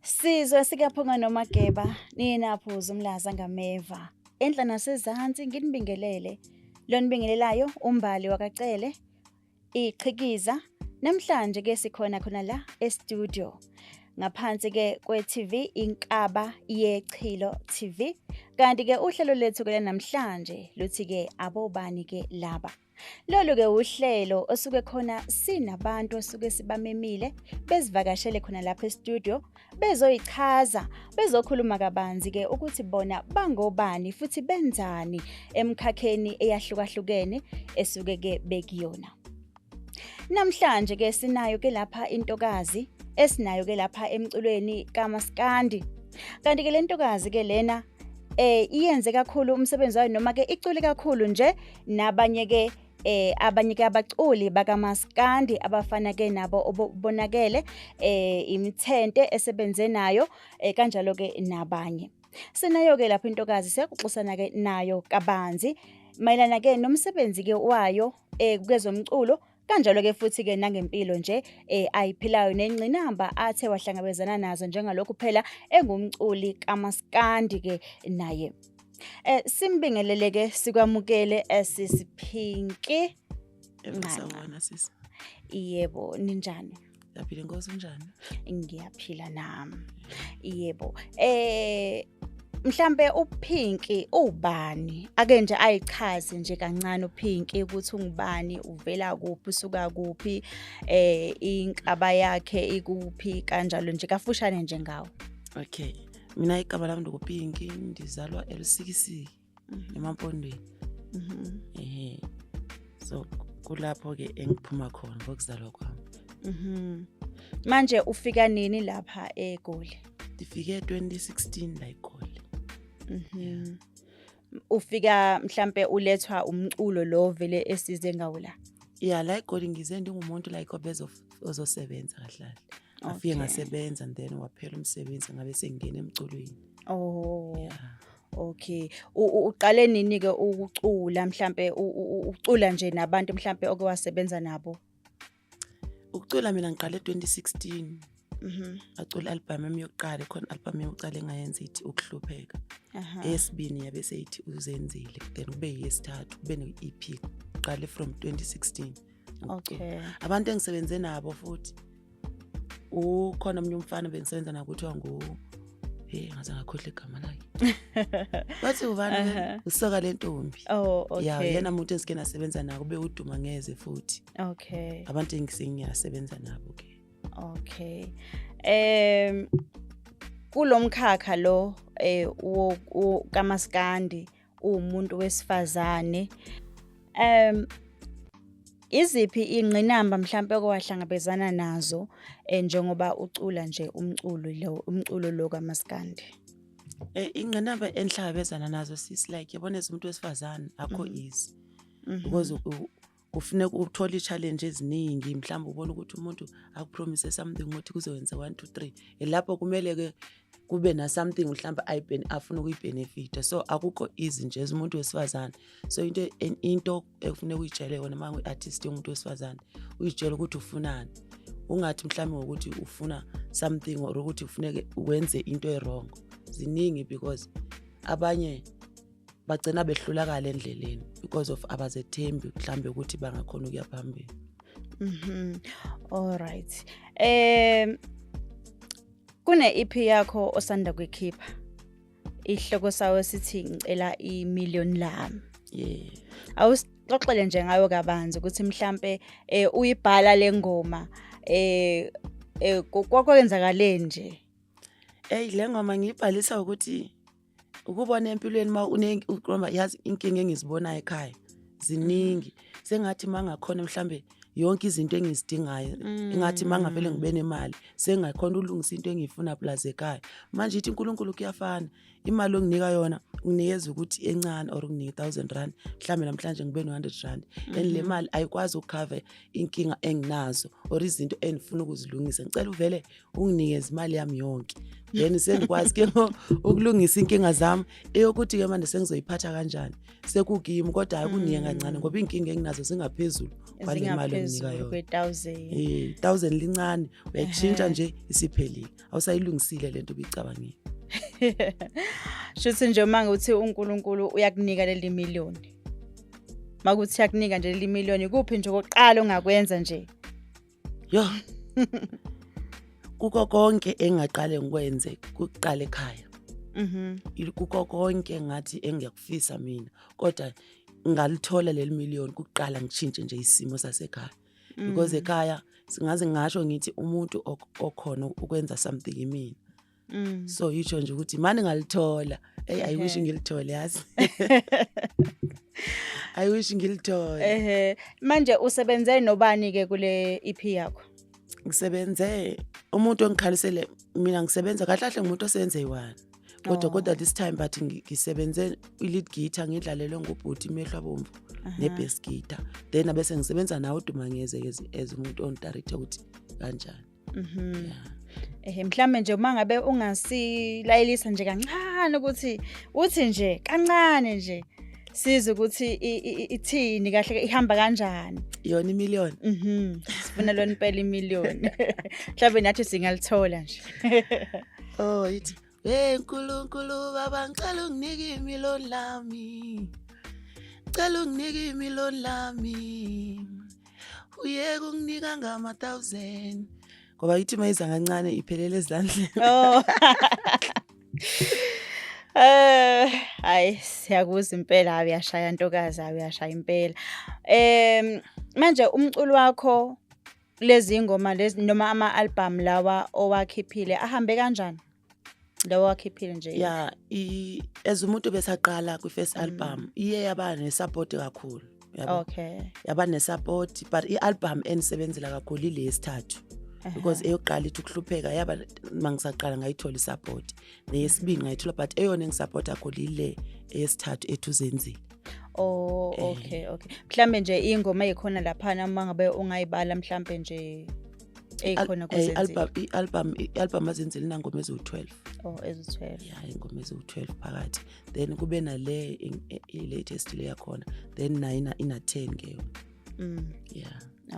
Sizwe sikaphunga nomageba ninaphuza umlaza ngameva enhla nasezansi nginibingelele lonibingelelayo umbali wakacele iqhikiza namhlanje ke sikhona khona la e-studio ngaphansi ke kwe-TV Inkaba Yechilo TV kanti ke uhlelo lethu ke namhlanje luthi ke abobani ke laba Lolu ke uhlelo osuke khona sinabantu osuke sibamemile bezivakashele khona lapha e-studio bezoyichaza bezokhuluma kabanzi ke ukuthi bona bangobani futhi benzani emkhakheni eyahlukahlukene esuke ke bekuyona. Namhlanje ke sinayo ke lapha intokazi esinayo ke lapha emculweni kamaskandi. Kanti ke lentokazi ke lena eh iyenze kakhulu umsebenzi wayo noma ke icule kakhulu nje nabanye ke eh abanye ke abaculi bakamaskandi abafana ke nabo obonakele eh imithente esebenze nayo eh, kanjalo ke nabanye sinayo ke lapho intokazi siyakuxusana ke nayo kabanzi mayelana ke nomsebenzi ke wayo eh kwezomculo kanjalo ke futhi ke nangempilo nje eh ayiphilayo nengcinamba athe wahlangabezana nazo njengalokhu phela engumculi kamaskandi ke naye eh simbingelele ke sikwamukele esisiphinki eh, nqanqa yebo ninjani Yaphila inkosi unjani? Ngiyaphila nami. Yebo. Eh mhlambe uphinki ubani ake nje ayichaze nje kancane uphinki ukuthi ungubani uvela kuphi usuka kuphi eh inkaba yakhe ikuphi kanjalo nje kafushane nje ngawo okay mina igama lami ndikuphinki ndizalwa elusikisiki mhm. emampondweni mhm. ehe so kulapho ke engiphuma khona ngokuzalwa kwami mhm manje ufika nini lapha egoli ndifike 2016 la egoli mhm ufika mhlambe ulethwa umculo lo vele esize ngawo la yeah la egoli ngize ndingumuntu like obezo ozosebenza kahle afike ngasebenza and then waphela umsebenzi ngabe sengingena emculweni oh yeah. Okay. U- u- Uqale nini ke ukucula mhlambe u- u- u- ucula nje nabantu mhlambe oke wasebenza nabo? Ukucula mina ngiqale 2016. Mhm. Acula album yami yokuqala khona album yokuqala engayenza ithi ukuhlupheka. Aha. Eyesibini yabe seyithi uzenzile then kube yesithathu kube ne-EP. Qale from 2016. okay abantu engisebenze nabo futhi ukhona omunye umfana bengisebenza naye kuthiwa ngu hey ngaze ngakhohle igama lakhe bathi ubani Aha. usoka le ntombi oh okay ya yena muntu esike nasebenza nako ube uduma ngeze futhi okay abantu engisengiyasebenza nabo ke okay em kulomkhakha lo eh wo- wo- kamaskandi uwumuntu wesifazane um iziphi ingqinamba mhlampe owahlangabezana nazo eh, njengoba ucula nje umculo lo umculo lo kamaskandi eh, ingqinamba enhlabezana nazo sis like yabona umuntu wesifazane akho mm-hmm. easy mm-hmm. because kufuneka uthole i-challenge eziningi mhlawumbe ubona ukuthi umuntu akupromise something ukuthi kuzokwenza one two three elapho kumele-ke kube na-something mhlawumbe afuna ukuyibhenefitha so akukho easy nje umuntu wesifazane so into into ekufuneka uyitshele yona uma ngu-artist yomuntu wesifazane uyitshele ukuthi ufunani ungathi mhlawumbe ngokuthi ufuna something or ukuthi ufuneke wenze into erongo ziningi because abanye bagcina behlulakala endleleni because of abazethembi mhlambe ukuthi bangakhona ukuya phambili mhm all right um kune EP yakho osanda kuyikhipha ihloko sawo sithi ngicela i million lami yeah awusixoxele nje ngayo kabanzi ukuthi mhlambe eh uyibhala lengoma eh eh kwakwenzakaleni nje hey lengoma ngiyibhalisa ukuthi ukubona empilweni uma unekroma yazi inkinga engizibonayo ekhaya ziningi sengathi uma ngakhona mhlambe yonke izinto engizidingayo mm. ingathi uma ngavele ngibe nemali sengakhona ulungisa into engiyifuna plus ekhaya manje ithi unkulunkulu kuyafana imali onginika yona unginikeza ukuthi encane or unginike thousand rand mhlawumbe namhlanje ngibe no-hundred rand and le mm-hmm. mali ayikwazi ukukhave inkinga enginazo or izinto engifuna ukuzilungisa ngicela uvele unginikeza imali yami yonke then sengikwazi ke ukulungisa inkinga zami eyokuthi ke manje sengizoyiphatha kanjani sekukimi kodwa hayi kuniye mm. kancane ngoba inkinga enginazo zingaphezulu kwale mali enginika yona eh 1000 lincane uyakushintsha nje isiphelile awusayilungisile lento ubicabangile shuthi nje uma ngithi uNkulunkulu uyakunika leli million makuthi uyakunika nje leli million ikuphi nje okoqala ongakwenza nje Yo. Kuko konke engaqale ngikwenze kuqala ekhaya. Mhm. Il- Kuko konke ngathi engiyakufisa mina kodwa ngalithola leli million kuqala ngishintshe nje isimo sasekhaya. Mm. Because ekhaya singaze ngasho ngithi umuntu ok- okhona ukwenza something yimina. Mm. so yitsho nje ukuthi mani ngalithola eyi i wish Okay. ngilithole yazi i wish ngilithole Ehhe. Manje usebenze nobani ke kule EP yakho? ngisebenze umuntu ongikhalisele mina ngisebenza kahle kahle ngumuntu osebenze yi-one kodwa Oh. kodwa this time but ngi- ngisebenze i-lead guitar ngidlalelwe ngubhuti imehlo abomvu Aha. ne-bass guitar then abese ngisebenza nawe udumangeze as umuntu ongidarethe ukuthi kanjani Mhm. Yeah. Eh mhlambe nje uma ngabe ungasilayelisa nje kancane ukuthi uthi nje kancane nje size ukuthi ithini kahle ihamba kanjani yona imillion mhm sifuna lona impela imillion mhlawumbe nathi singalithola nje oh ithi Hey Nkulunkulu baba ngicela unginike imiloni lami Ngicela unginike imiloni lami Uyeke unginika ngama 1000 ngoba ithi mayiza kancane iphelele ezandleni oh. Eh hayi siyakuza impela uyashaya ntokazi uyashaya impela. Em manje umculo wakho Lezi ingoma lezi noma ama album lawa owakhiphile ahambe kanjani? Lawa wakhiphile nje. Yeah, i as umuntu besaqala kwi first mm. album iye yaba ne support kakhulu. Yabo. Okay. Yaba ne support but i album enisebenzela kakhulu ilesithathu. because eyokuqala ithi ukuhlupheka yaba mangisaqala ngayithola isupport neyesibili ngayithola but eyona engisupporta khona ile eyesithathu ethu zenzile Oh Eh. okay okay. Mhlambe nje ingoma ekhona lapha noma ngabe ungayibala mhlambe nje ekhona Al- eh, kuzenzile. album i-album i-album azenzile inangoma eziwu-12 Oh ezithwele. ya ingoma eziwu-12 phakathi then kube nale in- e- i-latest le yakhona then nayo ina- ina-10 ke yona Mm. ya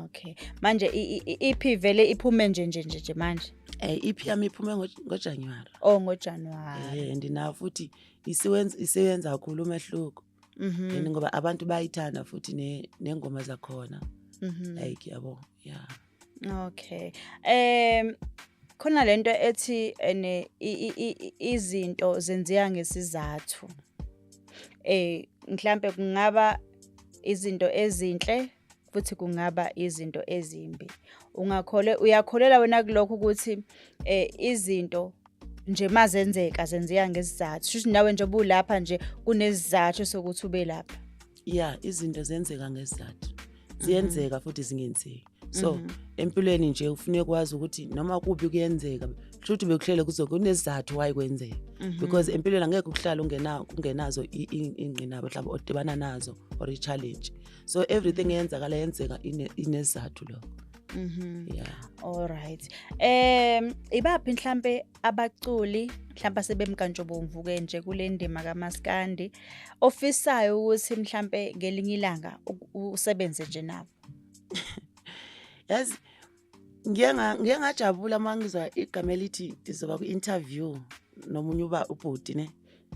Okay. Manje i- i- i- ipi vele iphume nje nje nje nje manje. um iphi yami iphume ngo- ngojanuwari Oh ngoJanuary. um ndinawo futhi isiwenza isiwenza kakhulu umehluko Mhm. and ngoba abantu bayithanda futhi ne- nengoma zakhona Mhm. like yabo yeah Okay. Em khona lento ethi ene i- i- i- i- izinto zenziwa ngesizathu. Eh mhlambe kungaba izinto ezinhle futhi kungaba izinto ezimbi ungakhole uyakholela wena kulokho ukuthi eh, izinto nje mazenzeka zenzeka ngesizathu shuthi nawe nje bulapha nje kunesizathu sokuthi ube lapha ya izinto zenzeka ngesizathu ziyenzeka futhi zingenzeki so empilweni nje ufune kwazi ukuthi noma kubi kuyenzeka shuthi bekuhlele kuzo kunesizathu why kwenzeka because empilweni angeke ukuhlala ungena ungenazo i- i- ingqinamba mhlawumbe odibana nazo or i-challenge so everything eyenzakala yenzeka inezathu lokho Mhm. Yeah. Alright. Em ibaphi mhlambe abaculi mhlambe sebemkantshobomvu ke nje kule ndima kaMaskandi ofisayo ukuthi mhlambe ngelinye ilanga usebenze nje nabo. Yazi ngiye ngiye ngajabula mangizwa igama elithi ndizoba ku-interview nomunye uba ubhuti ne.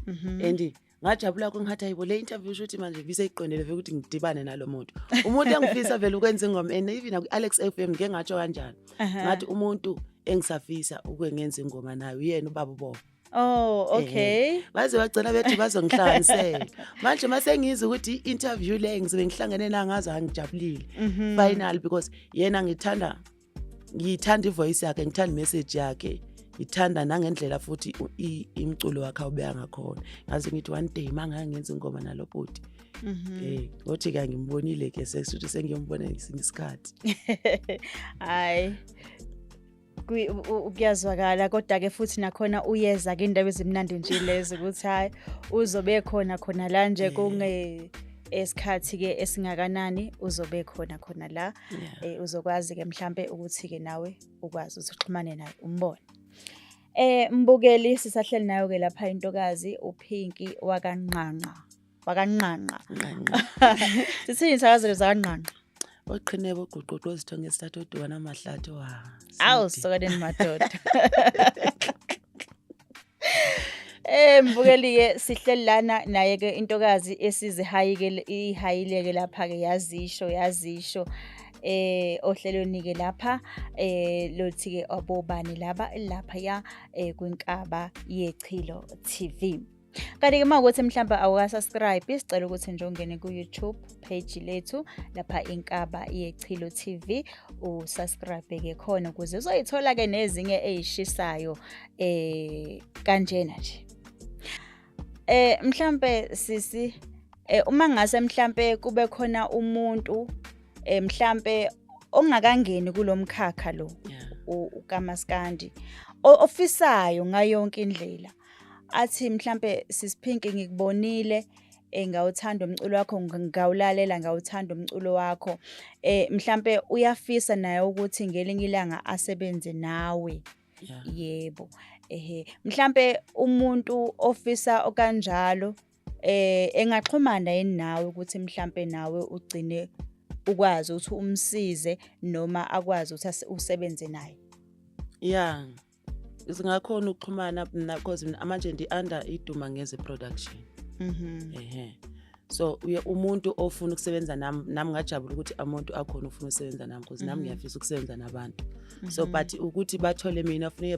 Mhm. And ngajabula kakhulu ngathi hayibo le interview shuthi manje ngiseyiqondele vele ukuthi ngidibane nalo muntu umuntu engifisa vele ukwenza ingoma and even aku-alex f m ngike ngatsho kanjani ngathi umuntu engisafisa ukuke ngenza ingoma naye uyena ubaba ubobo Oh okay. Baze bagcina bethi bazongihlanganisela. Manje mase ngizwe ukuthi i-interview le ngizobe ngihlangene nangazo angijabulile. Mhm. Final because yena ngithanda ngiyithanda ivoice yakhe ngithanda imessage yakhe ngithanda nangendlela futhi imculo wakhe awubeka ngakhona ngaze ngithi one day uma ngangenza ingoma nalo bhuti um mhm. eh, ngothi ka ngimbonile ke sekuthi sengiyombona ngesinye isikhathi hhayi kuyazwakala kodwa-ke futhi nakhona uyeza ke indaba ezimnandi nje lezo ukuthi hhayi uzobe khona khona la nje kunge esikhathi-ke esingakanani uzobe khona khona la yeah. um uzokwazi-ke mhlampe ukuthi-ke nawe ukwazi ukuthi uxhumane naye umbone Eh mbukeli sisahleli nayo ke lapha intokazi uPinky wakanqanqa. Wakanqanqa. Sithini sakazelo zakanqanqa. Oqhine boguquqo izithonge esithathu odwana amahlathi wa. Awu sokadeni madoda. Eh mbukeli-ke sihleli lana naye-ke intokazi esizihayike ihayileke lapha-ke yazisho yazisho eh ohlelweni-ke lapha eh lothi-ke abobani laba lapha ya eh kwinkaba yechilo TV Kanti-ke uma ukuthi mhlawumbe awukasubscribe sicela ukuthi nje ungene ku-YouTube page lethu lapha inkaba yechilo TV usubscribe-ke khona ukuze uzoyithola-ke nezinye eyishisayo eh kanjena nje eh mhlambe sisi eh uma ngase mhlambe kube khona umuntu eh mhlambe ongakangeni kulomkhakha lo uKamaskandi ofisayo ngayonke indlela athi mhlambe sisiphinki ngikubonile eh ngawuthanda umculo wakho ngawulalela ngawuthanda umculo wakho eh mhlambe uyafisa naye ukuthi ngelinye ilanga asebenze nawe yeah. yebo ehe mhlambe umuntu ofisa okanjalo eh engaxhumana yini nawe ukuthi mhlambe nawe ugcine ukwazi ukuthi umsize noma akwazi ukuthi usebenze naye yeah singakhona ukuxhumana mina because manje ndi-under iduma ngeze production mhm mm ehe so umuntu ofuna ukusebenza nami nami ngajabula ukuthi umuntu akhona ufuna ukusebenza nami because nami mhm. ngiyafisa ukusebenza nabantu so mhm. but ukuthi bathole mina funeke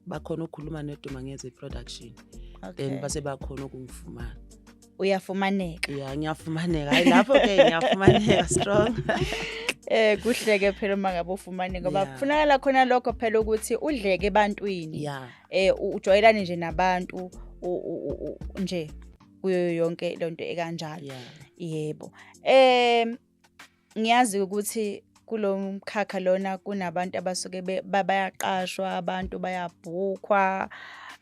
bakhona ukukhuluma neduma ngeze production then base bakhona ukungifumana uyafumaneka ya ngiyafumaneka hayi lapho ke ngiyafumaneka strong eh kuhleke phela uma ngabe ufumane ngoba kufunakala khona lokho phela ukuthi udleke ebantwini eh ujwayelane nje nabantu nje kuyo yonke lento ekanjalo yeah. yebo um ngiyazi ukuthi kulo mkhakha lona kunabantu abasuke bayaqashwa abantu bayabhukhwa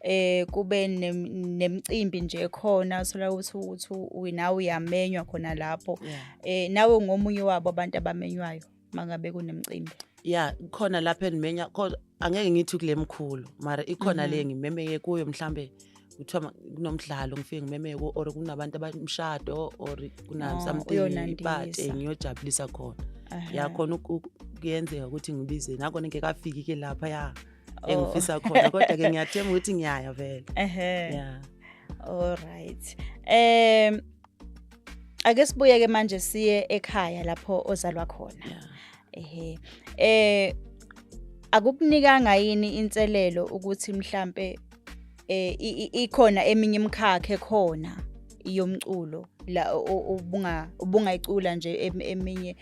eh kube nemcimbi nje khona sola ukuthi uthi unawe uyamenywa khona lapho eh nawe ngomunye wabo abantu abamenywayo mangabe kunemcimbi ya khona lapho endimenya kodwa angeke ngithi kule mkhulu mara ikhona le ngimemeye kuyo mhlambe kuthiwa ma- kunomdlalo ngifike ngimemeye kuwo or kunabantu abamshado or Oh, kunasomething uyonandisa. ipati ngiyojabulisa khona Aha. ya khona uku- uku- kuyenzeka ukuthi ngibize nakona ngekafiki ke lapha ya Oh. engifisa khona kodwa ke ngiyathemba ukuthi ngiyaya vele Ehhe. ya All right. Um ake sibuye ke manje siye ekhaya lapho ozalwa khona yeah. ehe eh akukunikanga yini inselelo ukuthi mhlambe eh ikhona eminye imkhakhe khona yomculo la ubunga ubungayicula nje eminye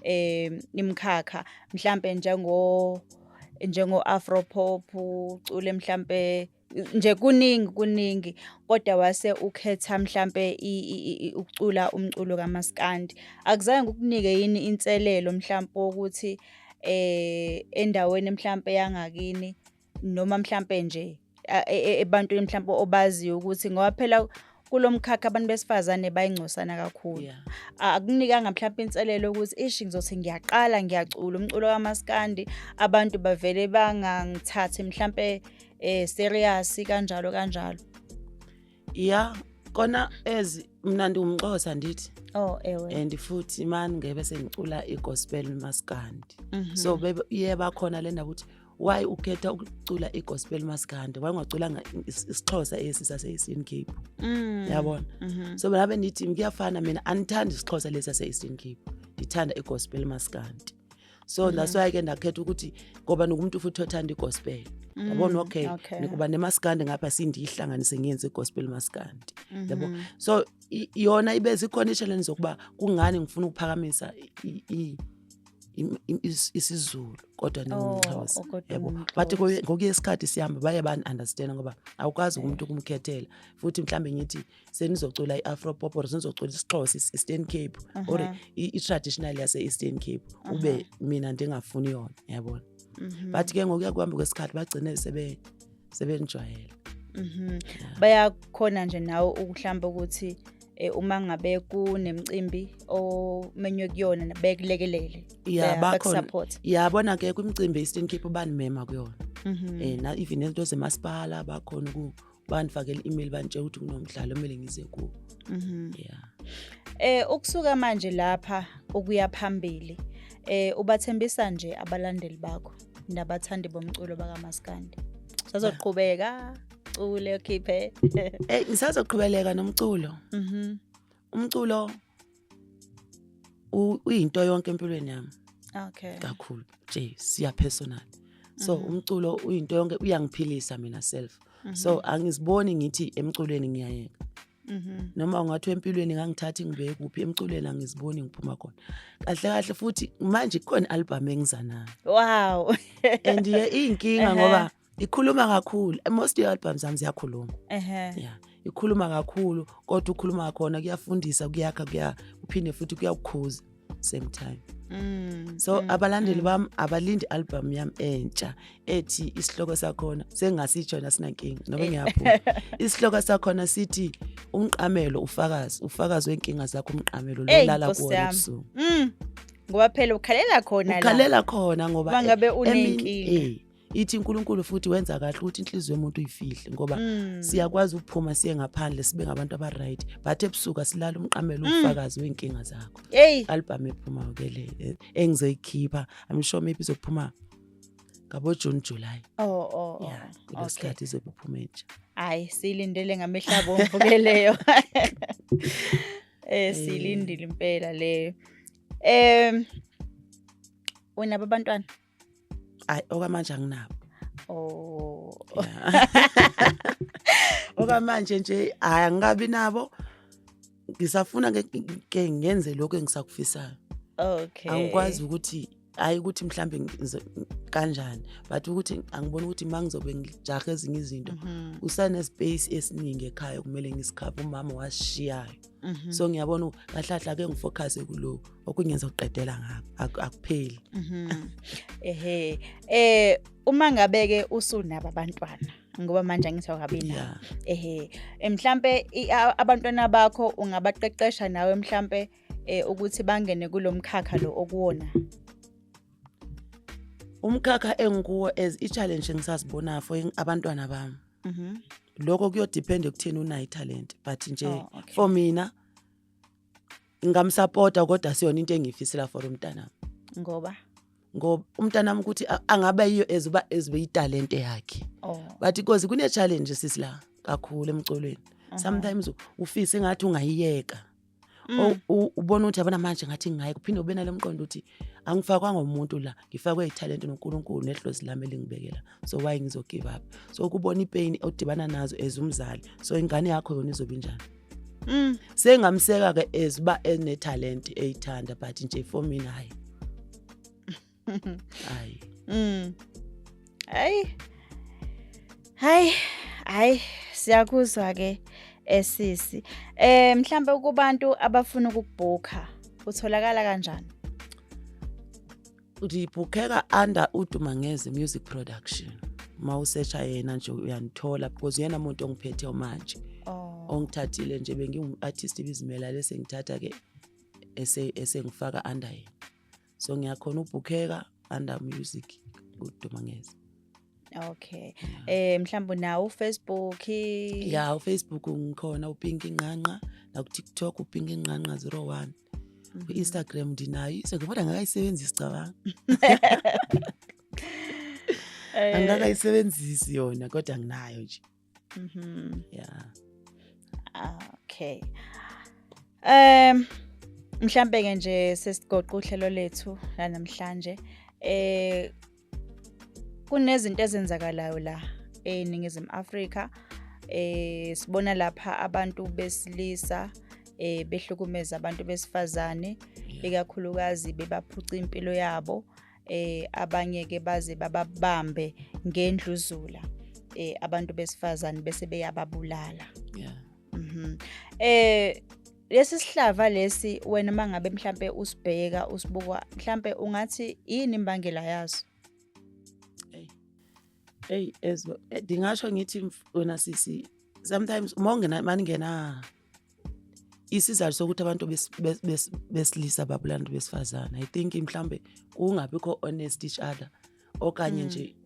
eh imkhakha mhlambe njengo njengo afro pop ucule mhlambe nje kuningi kuningi kodwa wase ukhetha mhlampe ukucula umculo kamaskandi akuzange kukunike yini inselelo mhlampe ukuthi eh endaweni mhlampe yangakini noma mhlampe nje e, e, ebantwini mhlampe obaziyo ukuthi ngoba phela kulo mkhakha abantu besifazane bayingcosana kakhulu yeah. akunikanga mhlawumpe inselelo ukuthi ishi ngizothi ngiyaqala ngiyacula umculo kamaskandi abantu bavele bangangithathi mhlawumpe eh serious kanjalo kanjalo yeah kona as mina ndiwumxhosa ndithi oh ewe and futhi mani ngebe sengicula igospel maskandi mm -hmm. so bebe iye bakhona lena ukuthi why ukhetha ukucula i-gospel maskandi why ungaculanga isixhosa esi sase-eastern cape mm. yabona mm -hmm. so mna bendithi kuyafana mina andithanda isixhosa lesi sase-eastern cape ndithanda i-gospel maskandi so mm -hmm. that's why ke ndakhetha ukuthi ngoba nokumuntu futhi othanda i-gospel mm, yabona mm, okay, okay. nikuba nemaskandi ngapha sindiyihlanganise ngenze i-gospel maskandi mm -hmm. yabo mm-hmm. so yona ibe zikhona i-challenge zokuba kungani ngifuna ukuphakamisa im- im- is- isiZulu kodwa Oh, ningumXhosa oh, kodwa yabo ungumXhosa. bathi koye- ngokuye isikhathi sihamba baye bani-understand ngoba awukwazi umuntu ukumkhethela futhi mhlawumbe ngithi senizocula i-afro pop or senizocula isixhosa is- eastern cape or Aha. i- i-traditional yase-eastern cape ube mina ndingafuni yona yabona Mhm. but ke ngokuya kuhambe kwesikhathi bagcine sebe sebenijwayele mhm bayakhona nje nawe ukuhlamba ukuthi eh, uma ngabe kunemcimbi omenywe kuyona bekulekelele ya bakhona yabona ke kwimcimbi Eastern Cape ubani mema kuyona mhm. eh na even into zemasipala bakhona ku bandifakela i-email bantshela ukuthi kunomdlalo omele ngize kuwo mhm. yeah eh ukusuka manje lapha ukuya phambili eh ubathembisa nje abalandeli bakho nabathandi bomculo bakamaskandi sazoqhubeka cule ukhiphe Eh ngisazoqhubeleka nomculo. Mhm. Umculo u- uyinto yonke empilweni yami okay kakhulu nje siya personal. So Mhm. umculo uyinto yonke uyangiphilisa mina self. Mhm. So angiziboni ngithi emculweni ngiyayeka. Mhm. noma ungathi empilweni ngangithathi ngibeke kuphi emculweni angiziboni ngiphuma khona kahle kahle futhi manje kukhona album engiza nayo wow and ye iyinkinga Ehhe. ngoba ikhuluma kakhulu most your albums zami ziyakhuluma ehe yeah ikhuluma kakhulu kodwa ukhuluma khona kuyafundisa kuyakha kuya uphinde futhi kuyakukhuza same time mm, so mm, abalandeli mm. bami abalindi album yami entsha ethi isihloko sakhona sengasitsho yena sinankinga noba eh. ngiyaphuma isihloko sakhona sithi umqamelo ufakazi ufakazi wenkinga zakho umqamelo lolala kuwona ebusuku mm. ngoba phela ukhalela khona ukhalela khona ngoba bangabe eh, unenkinga eh, ithi uNkulunkulu futhi wenza kahle ukuthi inhliziyo yomuntu uyifihle ngoba mm. siyakwazi ukuphuma siye ngaphandle sibe ngabantu abaright but ebusuka silala umqamelo mm. ubufakazi wenkinga zakho hey. album ephuma ke le e, engizoyikhipha i'm sure maybe izophuma ngabo June July oh oh, oh. yeah kulesikhathi okay. izobuphuma entsha hayi silindele ngamehla bomvu ke leyo eh silindile impela leyo em unabo abantwana ayi okwamanje anginabo oh okwamanje nje hayi angikabi nabo ngisafuna ke ngenze lokho engisakufisayo okay angikwazi ukuthi hayi ukuthi mhlambe kanjani but ukuthi angiboni ukuthi uma ngizobe ngijahe ezinye izinto mhm. usanespace esiningi ekhaya kumele ngisikhaphe umama wasishiyayo mhm. so ngiyabona kahlahla ke ngifocuse kulokhu okunye ngizoqedela ngapha akupheli mhm. ehe eh uma ngabe ke usunaba abantwana ngoba manje angithi awukabi nawo ehe eh, mhlambe abantwana bakho ungabaqeqesha nawe mhlambe eh, ukuthi bangene kulomkhakha lo okuwona umkhakha engikuwo as i-challenge ngisazibona for abantwana bami mhm. lokho kuyodepend ekutheni unayo italent but nje oh, for mina ngingamsapota kodwa siyona into engiyifisela for umntanami ngoba ngoba umntanami ukuthi angabe yiyo ezuba ezibe italente yakhe oh. but because kune challenge sisi la kakhulu emculweni uh -huh. sometimes ufise ngathi ungayiyeka mm. ubona ukuthi yabona manje ngathi ngaye kuphinde ube nalomqondo ukuthi angifakwanga umuntu la ngifakwe italente noNkulunkulu nehlozi lami elingibekela so why ngizogive up so ukubona ipain odibana nazo as umzali so ingane yakho yona izobe njani mm. sengamseka ke as uba enetalent eyithanda but nje for mina hayi hayi mm. hayi hayi hayi siyakuzwa ke esisi eh, eh mhlambe kubantu abafuna ukubhukha utholakala kanjani ndibhukheka under udumangeze music production uma usesha yena nje uyanithola because uyena muntu ongiphethe manje oh. ongithathile nje bengingu-artist bizimela lese ngithatha ke esengifaka under yena so ngiyakhona ubhukheka under music udumangeze Okay. Eh mhlawumbe nawo uFacebook. Yeah, uFacebook ngikhona uPinki Nqanqa, naku TikTok uPinki Nqanqa 01. Mhm. Ku-Instagram ndinayo Instagram kodwa angakayisebenzisi cabanga. Eh. Angikakayisebenzisi yona kodwa nginayo nje. Mhm. Yeah. Okay. Um mhlambe ke nje sesigoqa uhlelo lethu lanamhlanje. Eh kunezinto ezenzakalayo la eNingizimu Afrika eh sibona lapha abantu besilisa eh behlukumeza abantu besifazane ikakhulukazi bebaphuca impilo yabo eh abanye ke baze bababambe ngendluzula eh abantu besifazane bese beyababulala yeah mhm eh lesi sihlava lesi wena uma ngabe mhlampe usibheka usibuka mhlampe ungathi yini imbangela yaso eyi as eh, ndingasho ngithi wena sisi sometimes uma ungena maningena isizathu sokuthi abantu besilisa babulanda besifazane i think mhlawumbe kungabikho honest each other okanye mm. nje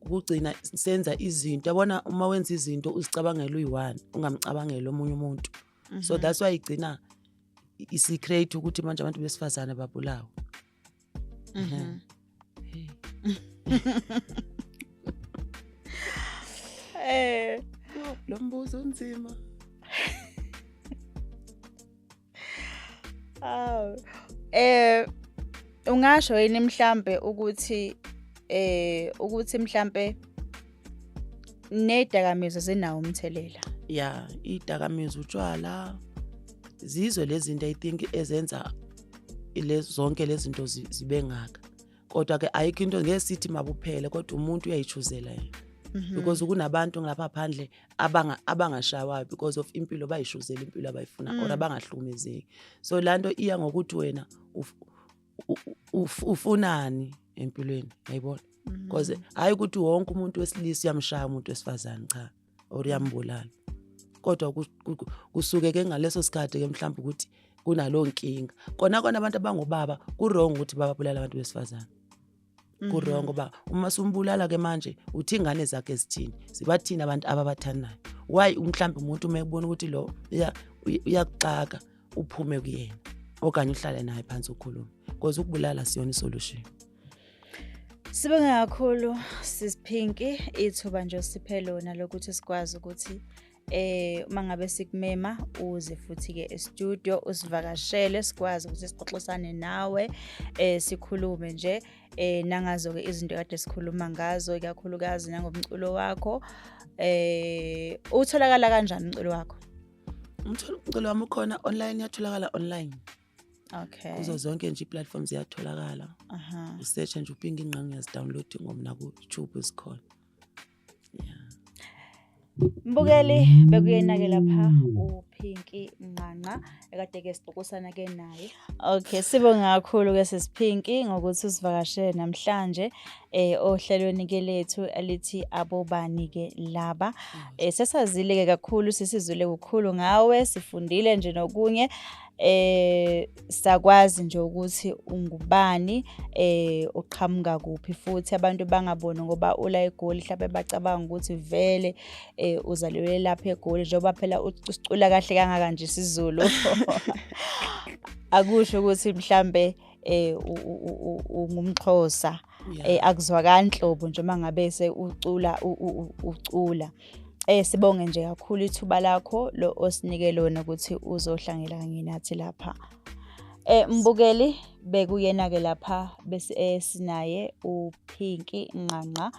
ukugcina senza izinto yabona uma wenza izinto uzicabangela uyi-one ungamcabangeli omunye umuntu mm -hmm. so mhm. that's why igcina isecret ukuthi manje abantu besifazane babulawa mm -hmm. eh lo mbuzo unzima aw eh ungasho yini mhlambe ukuthi eh ukuthi mhlambe Nedakamizwa zinawo umthelela. Yeah, idakamizwa utshwala zizwe lezinto I think ezenza zonke lezinto zibe ngaka. Kodwa ke ayikho into ngeke sithi makuphele kodwa umuntu uyayichuzela yena. Mhm. Because kunabantu ngapha phandle abanga abangashawayo because of impilo bayishuzela impilo abayifuna or mm. abangahlukumezeki. So lanto iya ngokuthi wena ufunani empilweni yayibona mhm. because hayi ukuthi wonke umuntu wesilisa uyamshaya umuntu wesifazane cha or uyambulala kodwa kusuke ke ngaleso sikhathi ke mhlawumbe ukuthi kunaloo nkinga kona kona abantu abangobaba kurong ukuthi bababulala abantu besifazane Mhm. kurongo ngoba uma sumbulala ke manje uthi ingane zakhe zithini sibathini abantu ababathandayo why mhlawumbe umuntu uma ekubona ukuthi lo uya- uy- uyakuxaka uphume kuyena okanye uhlale naye phansi ukhulume because ukubulala siyona isolution Sibonge kakhulu sisphinki ithuba nje osiphe lona lokuthi sikwazi ukuthi eh uma ngabe sikumema uze futhi ke e-studio usivakashele sikwazi ukuthi sixoxisane nawe eh sikhulume nje eh nangazo ke izinto kade sikhuluma ngazo ikakhulukazi nangomculo wakho eh utholakala kanjani umculo wakho umculo umculo wami ukhona online yatholakala online okay kuzo zonke nje iplatform ziyatholakala aha usearch nje upinga ingqangi uyazidownload ngomna ku YouTube isikhona Mbukeli bekuyinakela pha uPinky Nqanqa ekade ke sibhokosana ke naye. Okay, sibonga kakhulu ke sesiphinki ngokuthi usivakashele namhlanje eh ohlelweni ke lethu elithi abobani ke laba. Eh sesazile ke kakhulu sisizwile kukhulu ngawe, sifundile nje nokunye. eh sakwazi nje ukuthi ungubani eh uqhamuka kuphi futhi abantu bangaboni ngoba ula egoli mhlawumbe bacabanga ukuthi vele eh uzalelwe lapha egoli njengoba phela ucula kahle kangaka nje isiZulu akusho ukuthi mhlambe eh ungumxhosa yeah. eh akuzwakani nhlobo nje mangabe se ucula ucula eh sibonge nje kakhulu ithuba lakho lo osinike lona ukuthi uzohlangela kanye nathi lapha eh mbukeli bekuyena ke lapha bese eh, sinaye uPinky Nqanqa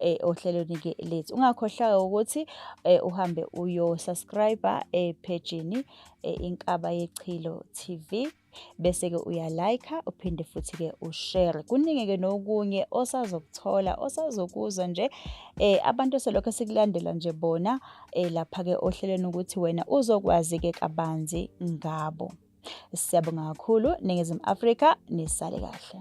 eh ohlelweni ke lethu ungakhohlwa ukuthi eh, uhambe uyo subscriber eh page ni eh, inkaba yechilo TV bese-ke uyalayikha uphinde futhi-ke ushere kuningi-ke nokunye osazokuthola osazokuzwa nje eh abantu selokho sikulandela nje bona eh lapha-ke ohlelweni ukuthi wena uzokwazi-ke kabanzi ngabo siyabonga kakhulu ningizimu afrika nisale kahle